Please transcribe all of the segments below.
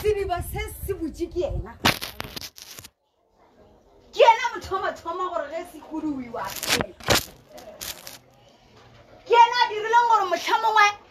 sediba se se botse ke ena ke ena mothomathoma gore ge se kuduwiwa ke ena a dirileng gore motlha mongwe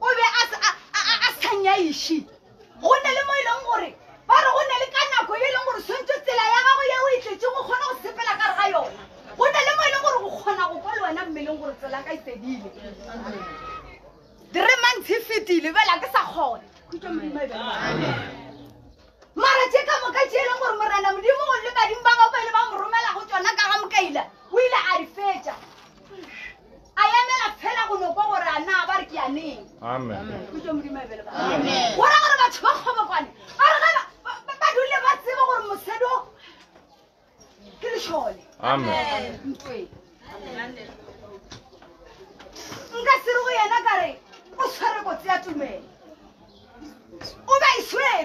o be a sa nyaiši go ne le mo e leng gore ba re go ne le ka nako e leng gore tshwanetse tsela ya gago ye o e tletse go kgona go sepela ka re ga yona go ne le mo e leng gore go kgona go kwa le wena mmeleng gore tsela ka ipedile three months e fetile bela ke sa kgona khutso modimo e bele Mara tše ka moka tše e leng gore Morena Modimo o le badimo ba gago ba ile ba mo romela go tšona ka ga mokaila, o ile a di fetša. A emela fela go no kwa gore a na ba re ke yaneng. Amen. Kutšo Modimo a bele ba. Amen. Go ra gore batho ba kgobokwane ba re ga ba- ba- ba- ba dule ba tseba gore mosadi o ke lešole ntwe nka sere go yena ka re o tshwere kotsi ya tumelo o ba e swere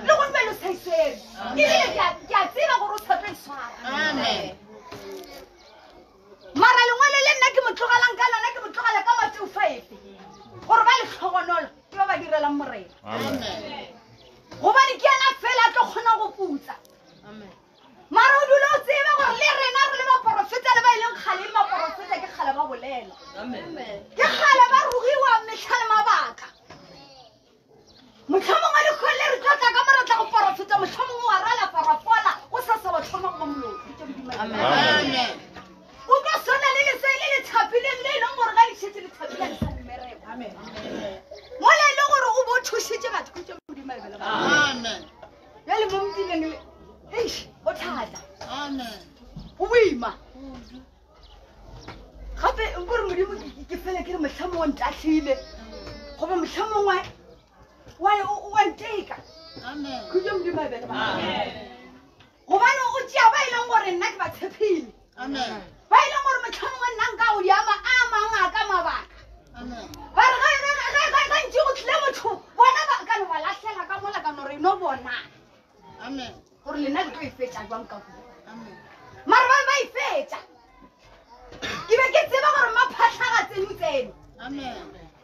le go tumelo sa e swere ebile ke a tseba gore o tshepe e swara mara lengwalo le nna ke mo tlogelang ka lona ke mo tlogela ka mateo faefe gore ba letlhogonolo ke ba ba direlang morena gobane ke yena fela a tlo kgonang go putsa mara o dule o tsebe gore le rena re le baporofeta le ba e leng kgale le baporofeta ke kgale ba bolela ke kgale ba rugiwa metlha le mabaka motlho mongwe le kgole re tlo tla ka mo re tla go porofeta motlho mongwe wa rala parapola o sa sa wa tlhoma goba moloo o tlo swana le lese le le thapileng le e leng gore ga le šetse le thapile le sa mmereko mola e le gore o bo thušitše batho ke tše modimo e bele Bjale mo mpile le eish o thata. Amen. Go boima. Gape nko re modimo ke fele ke re motlha mongwe ntatlhile goba motlha mongwe wa nteka khutso modimo a bele ba gobane o tšea ba e leng gore nna ke ba tshepile ba e leng gore motlhomongwe nna nka o diama a mang a ka mabaka ba re gantši go tlile motho bona ba ka no ba latlhela ka mola ka nore no bona gore lena le tlo e fetša jwang ka ku mara ba be ba e fetša ke be ke tseba gore maphatlhaga tseno tseno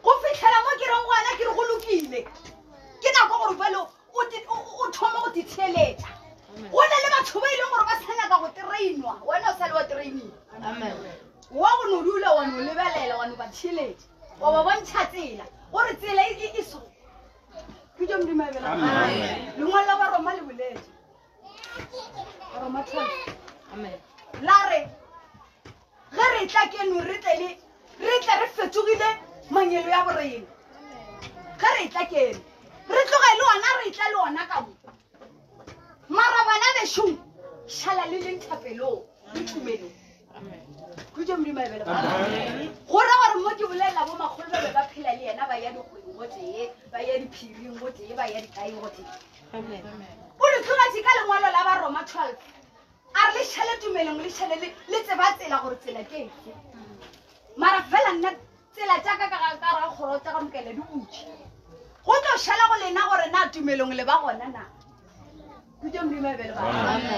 go fitlhela mo ke reng gona ke re go lokile ke nako gore jalo O, te, o, o thoma go titheeletša. Go na le batho ba e leng gore ba sa nyaka go trainwa, wena o sa le wa trainiwa. Wa go no dula wa no lebelela wa no ba theeletša wa ba bontšha tsela gore tsela e, e, e so ke tšo modimo ebela lengwalo la baroma le boletse baroma 12 la re Ge re etla keno re tle le, re tle re fetogile manyelo ya borena. Ge re etla keno, re tloge le ona, re etla le ona ka mo. Mara bana bešong, šala le leng thapelong le tumelong. Khutše Modimo a e bele ba. Go ra gore mo ke bolelela bo makgolo ba be ba phela le yena, ba ya dikgweng go tee, ba ya diphiring go tee, ba ya dikaeng go tee. O le tlogetše ka lengwalo la Baroma 12. A re le šele tumelong, le šele le, le tseba tsela gore tsela ke efe. Mara fela nna tsela tša ka ka ga ka ra kgoro tša ka mokele di butše. Go tlo šala go lena gore na tumelong le ba gona na. Kutše Modimo a be le bana.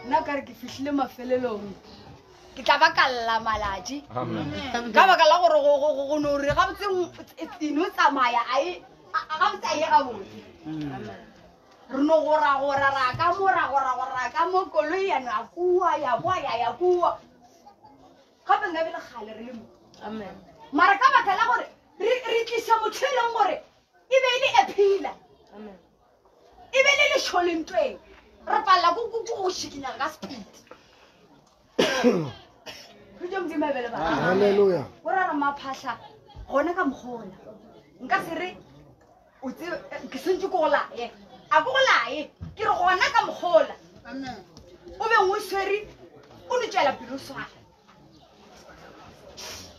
Nna ka re ke fihlile mafelelong. Ke tla ba ka lla malatši. Ka baka la gore go- go- go- go no re gabotse e no tsamaya a e a- a gabotse a ye gabotse. Re no goragora ra ka mo ra goragora ra ka mo koloi ya no ya kua ya boa ya ya kua gape nka bele kgale re le mo mara ka baka la gore re tlisa motho e leng gore e be e le a phila e be le lešolentweng re palela ko go šikinyang ka sepedi Hallelujah. O ra ra maphahla gone ka mokgona. Nka se re o tse ke sentse ko lae. A ko lae. Ke re gona ka mokgona. Amen. O be ngwe sweri o ne tšela pelo swana.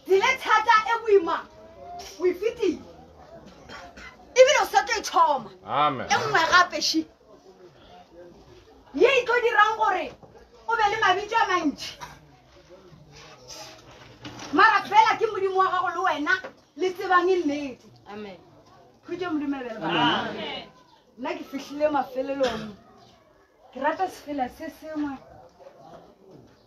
Dile thata e boima. O ifitile. Ebile o sa tlo e thoma. Amen. E nngwe gape shi. ye e tlo dirang gore o be le mabitso a mantši mara fela ke modimo wa gago le wena le tsebang e nnete khutše modimo ebele nna ke fihlile mafelelong ke rata sefela se sengwe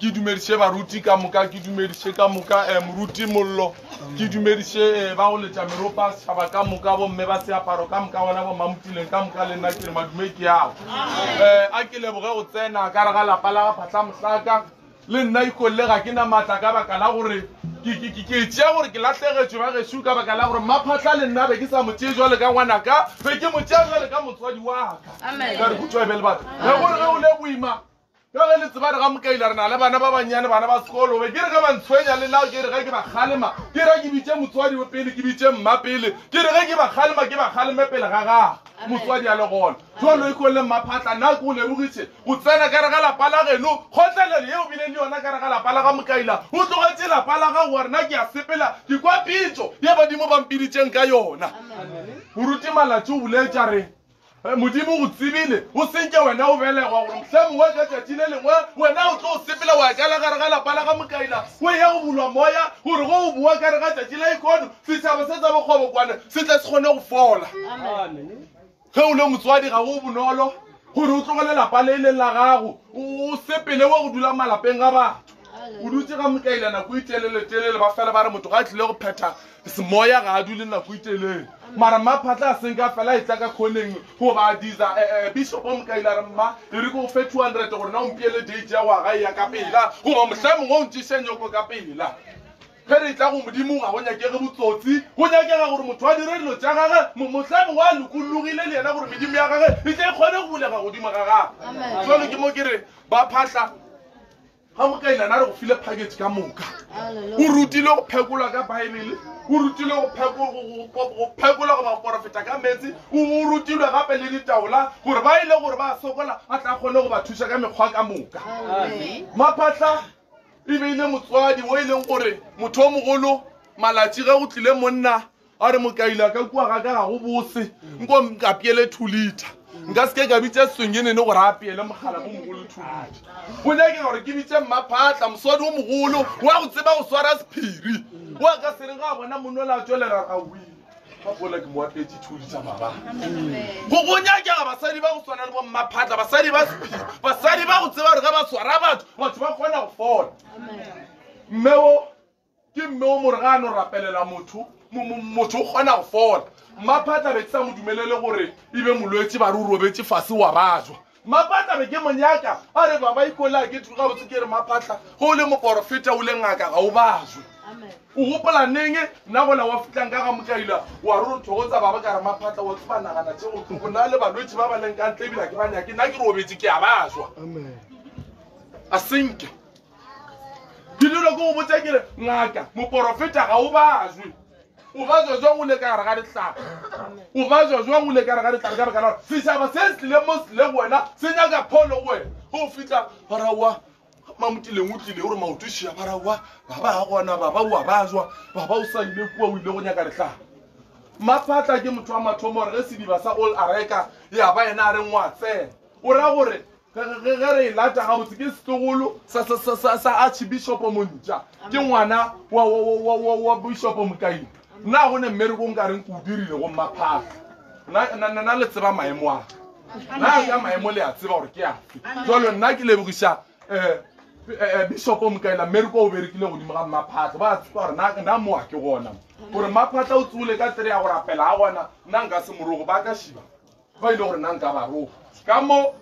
Ke dumediše baruti ka moka, ke dumediše ka moka eh, moruti Mollo, ke dumediše eh, ba go letša meropa, setšhaba ka moka, bomme ba seaparo ka moka, bona bomamutuleng ka moka, le nna ke re madume ke ao. Eh, a ke leboge go tsena ka re ga lapa la ga Phatla Mohlaka. Le nna ikolle ga ke na maatla ka baka la gore ke ke- ke- ke tšea gore ke lahlegetšwe ba gešo ka baka la gore mmaphatla le nna be ke sa mo tšee jwale ka ngwanaka be ke mo tšea jwale ka motswadi waka ka re kutšwa e be le batho ge gore ge o le boima Bjale le tsebare ga mokaila re na le bana ba bannyane bana ba sekolo be ke re ge ba ntshwenya le nao ke re ge ke ba kgalema ke ra ke bitše motswadi o pele ke bitše mma pele ke re ge ke ba kgalema ke ba kgaleme pele ga gago motswadi a le gona jalo ikong le mmaphatla nna ke o lebogitše go tsena ka re ga lapa la geno kgotlelelo yeo bile le yona ka re ga lapa la ga mokaila o tlogetše lapa la gago wa rena ke a sepela ke kwa pitšo ye badimo ba mpiditšeng ka yona moruti malatši o boletša re Modimo o tsebile o se nke wena o belegwa gore mohlomongwe ka tšatši le lengwe wena o tlo sepela wa kala gare ga lapa la ga mokaina o ye go bulwa moya gore go o boa kare ga tšatši la ikono setšhaba se tsa bokgobokwane se tle se kgone go fola. Ge o le motswadi ga go bonolo gore o tlogele lapa le e leng la gago o sepele wa go dula malapeng ga batho o dutse ga mokaina nako e telele telele ba fela ba re motho ga a tlile go phetha Semoya ga a dule nako e telele, mara mma phatla a senka fela a etla ka khoneng go ba adiza. E-e, Bishop o mokaile a re, Mma, e re ke go fe two hundred gore na o mpeele date ya go ya gae ya ka pela, goba mohlomongwe o ntšeše nyoko ka pela. Ge re etla go Modimo ga go nyakege botsotsi, go nyakega gore motho a dire dilo tša gage mo, mohlomongwe a lokollogile le yena gore medimo ya gage e tle e kgone go bulega godimo ga gagwe. Bjalo ke mo ke re, Ba phatla, Ga mokailana a re go file package ka moka. O rutile go phekolwa ka Baebele, o rutile go phekolwa go baporofeta ka meetse, o rutilwe gape le ditaola gore ba ile gore ba sokola a tla kgone go ba thusa ka mekgwa ka moka. Maphatla e beile motswadi o e leng gore motho o mogolo malatsi ge go tlile monna A re, Mokaila, ka kua ga ka ga go bose, nko nkapeele two liter. Nka se ke ka bitša Swengenene gore a apeele mogalakomogolo two liter. Go nyakega gore ke bitše Mmaphatla, moswadi wo mogolo, wa go tseba go swara sephiri, wo a ka se reng ga a bona monna o le a tšwelela ra win. Ka pola ke mo apeetše two liter mabala. Go go nyakega basadi ba go swana le bo Mmaphatla, basadi ba sephiri, basadi ba go tseba gore ge ba swara batho, batho ba kgona go fola. Mme wo Ke mme o mo re ga a no rapelela motho, motho o kgona go fola. Mmaphatla be ke sa mo dumelele gore e be molwetši, ba re o robetše fase wa bajwa. Mmaphatla be ke mo nyaka, a re baba Ikolaa ke gabotse ke re Mmaphatla ge o le moporofeta o le ngaka ga o bajwe. O gopola neng nna gola wa fitlang ka ga Mokaila wa re o thogotsa baba ka re Mmaphatla wa tseba nagana tše go tloko na le balwetši ba ba leng ka ntle ebile ke ba nyake nna ke robetše ke a bajwa. Asenke. ke dilo ke go botsa kere ngaka moporofeta ga o bazwe o ba zwa zwang o le ka gare ga ditlhare o ba zwa zwang o le ka gare ga ditlhare ka baka la setšhaba se se tlileng mo se leng wena se nyaka pholo go wena go fitlha barawa mamotileng o tlile gore maotošia barawa baba ga gona baba o a ba zwa baba o sa ile kua o ile go nyaka ditlhare maphatla ke motho wa mathomo gore ge sediba sa all areka ya ba yena a reng wa tsena o ra gore Ge re e lata gabotse, ke setlogolo sa Archibishopo Montša, ke ngwana wa Bishopo Mokaina. Na go ne mmereko nka reng ke o dirile go Mmaphafa? Na le tseba maemo a ka? Na ka maemo le a tseba gore ke afe? Jalo nna ke lebogiša um Eh, bishop o mokaela mmereko o berekile godimo ga mmaphatlha ba tswa gore na na moa ke gona gore mmaphatlha o tsole ka tsere ya go rapela a gona nna nka se morogo ba ka shiba Ba ile gore na nka ba ro ka mo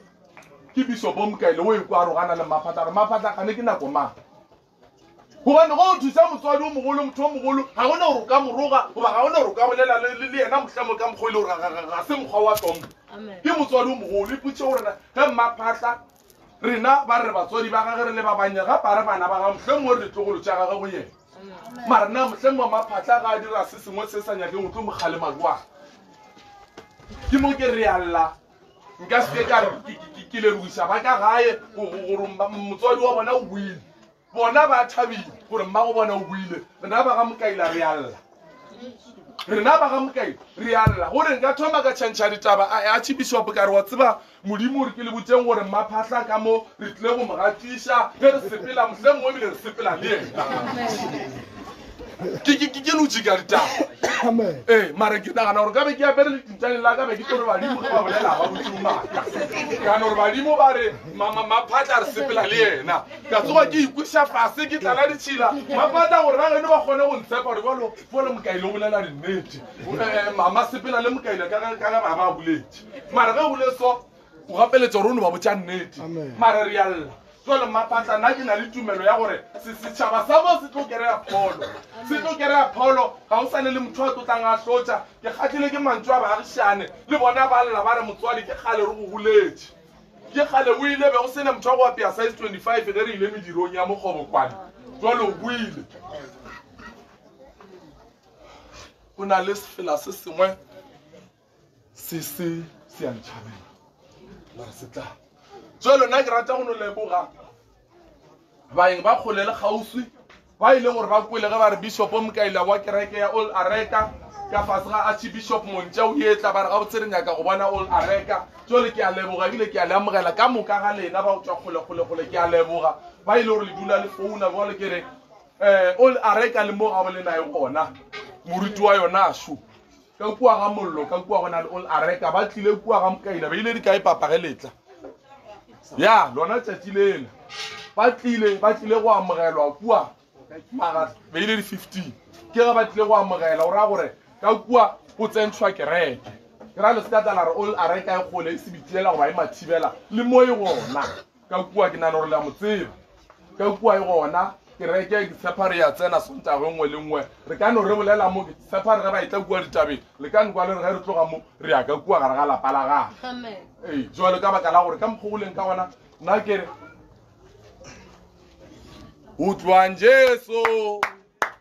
ke biso bomka ile o ikwa ro gana le maphatla re maphatla kane ke nako mang gobane go thusa motswadi o mogolo motho o mogolo ga gona gore o ka moroga goba ga gona gore o ka bolela le yena mohlamo ka mokgwa ile gore ga se mokgwa wa tlompo ke motswadi o mogolo ipotse gorena ge mmaphatla Rena ba re batswadi ba gage re le ba bannya gape a re bana ba gage mohleng mo re ditlogolo tša gage go yena. Mara na mohleng mo maphatla ga a dira se sengwe se sa nyakeng o tlo mo kgalema jwang? Ke mo ke re alla nka se ke ka re ke lebogisa ba ka gae gore motswadi wa bona o buile. Bona ba thabile gore mmago bona o buile. Rena ba ga Mokaila re a lla. Rena ba ga Mokaila re a lla. Gore nka thoma ka tšhantšha ditaba, a eya Tšhibishopo ka re, Wa tseba, Modimo o re ke le botšeng gore Mmaphahla ka mo re tlile go mo gatiša ge re sepela, mohlomongwe ebile re sepela le yena. Ke ke ke ke lo jika ditaba. Amen. Eh, mara ke nagana gore ka be ke apere letintšane la ka be ke tore badimo ge ba bolela ba botse o maaka. Ka no re badimo ba re maphatla re sepela le yena. ka tsoga ke ikweša fase ke tlala ditšhila mapata gore ba geno ba kgone go ntshepa gore balo bole mokaile o bolela dinnete eh, mama sepela le mokaile ka ge ba ba boletše mara ge bole so o gapeletša gore o ne ba botša nnete mara re yalla jale mapatla nna ke na le tumelo ya gore setšhaba sa mo se tlo kereya pholo se tlo kereya pholo ga o sane le motho a tlotlang a tlotša ke kgatlhile ke mantso a baagišane le bona ba lla ba re motswadi ke kgale re go guletše Ke kgale o ile be go sena motho wa go apea size 25 ge re ile medirong ya mokgobokwane jwale o buile go na le sefela se sengwe se se se a ntšhabela mara se tla jwalo nna ke rata go no leboga baeng ba kgole le kgauswi ba ile gore ba kwele ge ba re bishopo mokaila wa kereke ya old areka ka fase ga archibishop montša o etla ba re gabotse re nyaka go bona old areka jole ke a leboga ebile ke a le amogela ka moka ga lena ba go tswa kgolekgolekgole ke a leboga ba ile gore le dula le founa jale ke re um old areka le mo ga bolena e gona moruti wa yona šo ka kua ga mollo ka kua go na le ol areka ba tlile kua ga mokaina ba ile di kae papa ge letla ya lona tšatši lela ba tlile ba tlile go amogelwa kua mara ba ile di fifteen ke ge ba tlile go amogela o raya gore ka kua o tsentshwa kereke ke ra le se ka tla la re ol areka e kgole e se bitiela goba e mathibela le mo e gona ka kua ke nagana gore le a mo tseba ka kua e gona kereke ke tshepa re ya tsena sontago nngwe le nngwe re ka no re bolela mo ke tshepa re ge ba e tla kua ditabeng le ka nkwa le re ge re tloga mo re ya ka kua gare ga lapa la gage ee jalo ka baka la gore ka mokgogoleng ka gona nna ke re utlwang jesu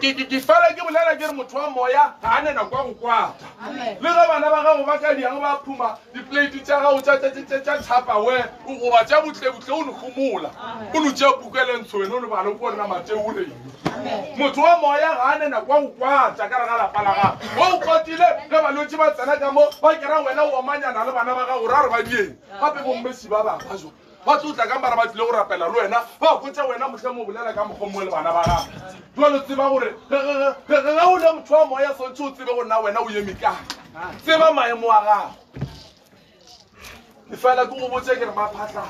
ke fela ke bolela ke re motho wa moya ga a nena kwa go kwata le ge bana ba gago ba ka diang ba phuma diplate tša gago tša tapawe o goba tša butlebutle o nogomola o no tšea puka le ntsho wena o le bale o ko nna mateo o reng motho wa moya ga a nena kwa go kwata ka re ga lapa la gago wa o kwatile ge balwetse ba tsena ka mo ba kera wena o omanyana le bana ba gago ra re ba dieng gape bommesi ba ba ba jo ba tlo tla ka mara ba tlile go rapela le wena ba botsa wena motlhe mo bolela ka mokgwa mongwe le bana ba gago jalo tseba gore ge o le motho wa moya swantse o tsebe go nna wena o eme kae tseba maemo a gago e fela ke go botse ke re ba phatlha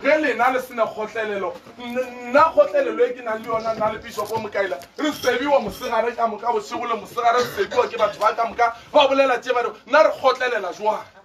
ge lena le sena kgotlelelo nna kgotlelelo e ke nang le yona nna le bishopo mokaela re sebiwa mosegare ka moka bosego le mosegare re sebiwa ke batho ba ka moka ba bolela tse ba re nna re kgotlelela jwang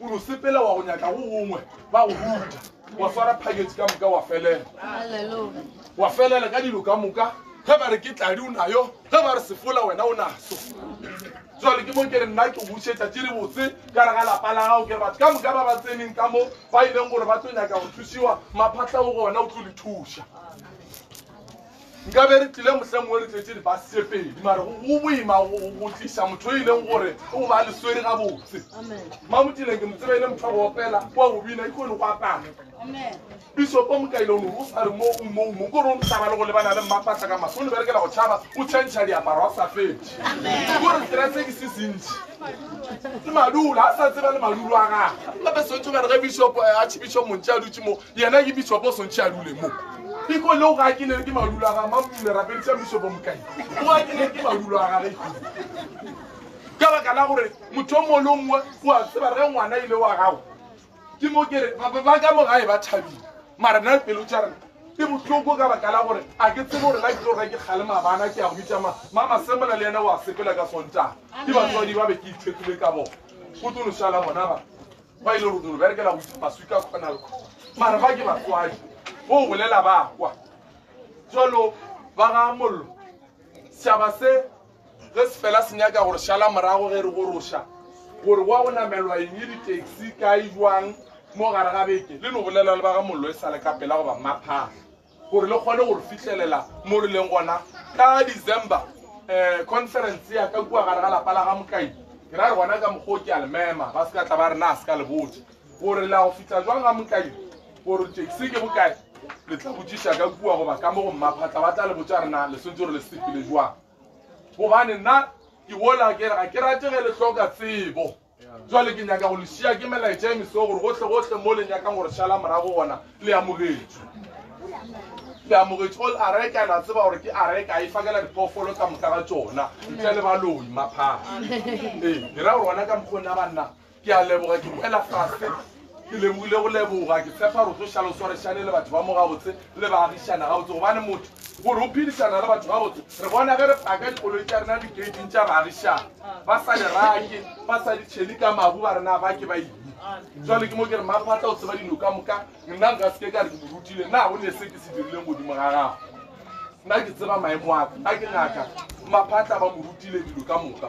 O no sepela wa go nyaka go gongwe ba go ruta. Wa swara package ka moka wa felela. Wa felela ka dilo ka moka. Ge ba re ke tladi o nayo, ge ba re sefola wena o naso. Jwale ke mo ke re nna ke bušetša tše di botse ka re ga lapa la gago ke re batho ka moka ba ba tseneng ka mo ba ileng gore ba tlo nyaka go thusiwa maphatla o gona o tlo le thuša. Nka be re tlile mohla mongwe re tletše dibase pedi mare go boima go tliša motho o e leng gore o ba le swere ga botse mamotileng ke motseba e le motho wa go opela kwa go bina ke kone go apara bisopo mokaile o ne o sa re mo o mo mo kore o ntaba le go lebana le mmafatla ka maso o ne berekela go tšhaba o tšhentšha diaparo a sa fetše kore tsera tse ke se sentši le madulo a sa tseba le madulo a gage gape sotho ba re ge bisopo eh, a tšhibišo montši a dutše mo Yena ke Bishop o swantšhe a dule mo. Iko leo ga ke le ke madulo a ga mamme rapeditša Bishop o mokae. O a ke le ke madulo a ga re. Ka baka la gore motho o mongwe le o mongwe o a tseba re ngwana ile wa gago. Ke mo ke re ba ka mo gae ba thabile. Mara na pelo tša rena ke bohloko ka baka la gore a ke tsebe gore la ke tlo reka kgale mabana ke a go bitša ma mama semola le yena o a sepela ka sontaga ke batswadi ba be ke ithetile ka bona go tlo lošala bona ba Ba ile rutunu berekela go isa maswi ka khonal kho. Mara ba ke batswadi. Go bolela ba kwa. Jalo ba ga mollo. Saba se ge se fela se nyaka gore shala morago ge re go rosha. Gore wa go namelwa eng e di-taxi ka e jwang mo gare ga beke. Le no bolela le ba ga mollo e sale ka pela go ba maphaga. gore le kgone gore fihlelela mo re leng gona ka december um conference ya ka kua gare ga lapa la ga mokai ke ra re gona ka mokgwa o ke a le mema ba se ka tla ba re na a se ka le botse gore la go fitlha jwang ga mokai gore taxi ke bokae le tla botsiša ka kua goba ka mo go mmaphatla ba tla le botsa rena le swetse gore le sepele jwang gobane nna ke wola ke re ga ke rate ge le hloka tsebo Jwale ke nyaka go le šia ke melaetša e mesego gore gohle-gohle mo le nyakang gore šala morago gona le amogetšwe. Le amogetšwe all areka la tseba gore ke areka e fakela dipoofolo ka moka ga tsona ntle le baloi maphaa. Ee, ke ra gore gona ka mokgone a banna ke a leboga ke boela faste Ke lemogile go leboga. Ke tshepa gore o tlo šala o swarešane le batho ba mo gabotse le ba agišana gabotse gobane motho gore o phedišana le batho gabotse re bona ge re paka dikoloi tša rena diketing tša baagišana ba sa di rake ba sa di tšhele ka mabu ba rena ba ke ba eng jale ke mo ke re maphatla o tseba dilo ka moka nna nka seke ka re ke morutile nna go ne se ke se dirileng godimo ga gago nna ke tseba maemo aka nna ke ngaka maphatla ba morutile dilo ka moka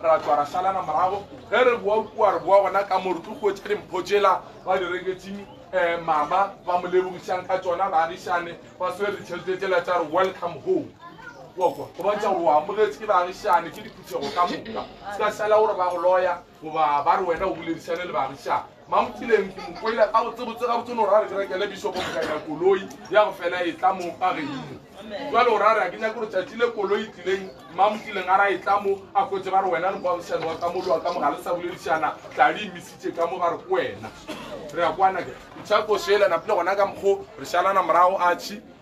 ra tšwa ra šalana morago ge re boa kua re boa gona ka mo re tlo kgwetša dimpho tšela ba di reketseng um eh, mama ba mo lebogišang ka tsona baagišane ba swere ditšhelete tšela tša re welcome home wakwa go bontšha gore o amogetse ke baagišane ke diphuthego ka moka se ka sala gore ba go loya goba ba re wena o boledišane le baagišane Mampileng ke mo kwele gabotsebotse, gabotse o ne o ra re ke rekele Bishopo Mokanya koloi ya go fela e tla mo ka Geimo. Jwale o ra re ga ke nyake gore tšatši le koloi e tlileng Mampileng a ra e tla mo a kwetše ba re wena le moagišani wa ka molowa ka mogale sa boledišana tla le imisitše ka mo ba re ke wena re ya kwana ke Tšhako Sheila Napile gona ka mokgo re šalana morago Archie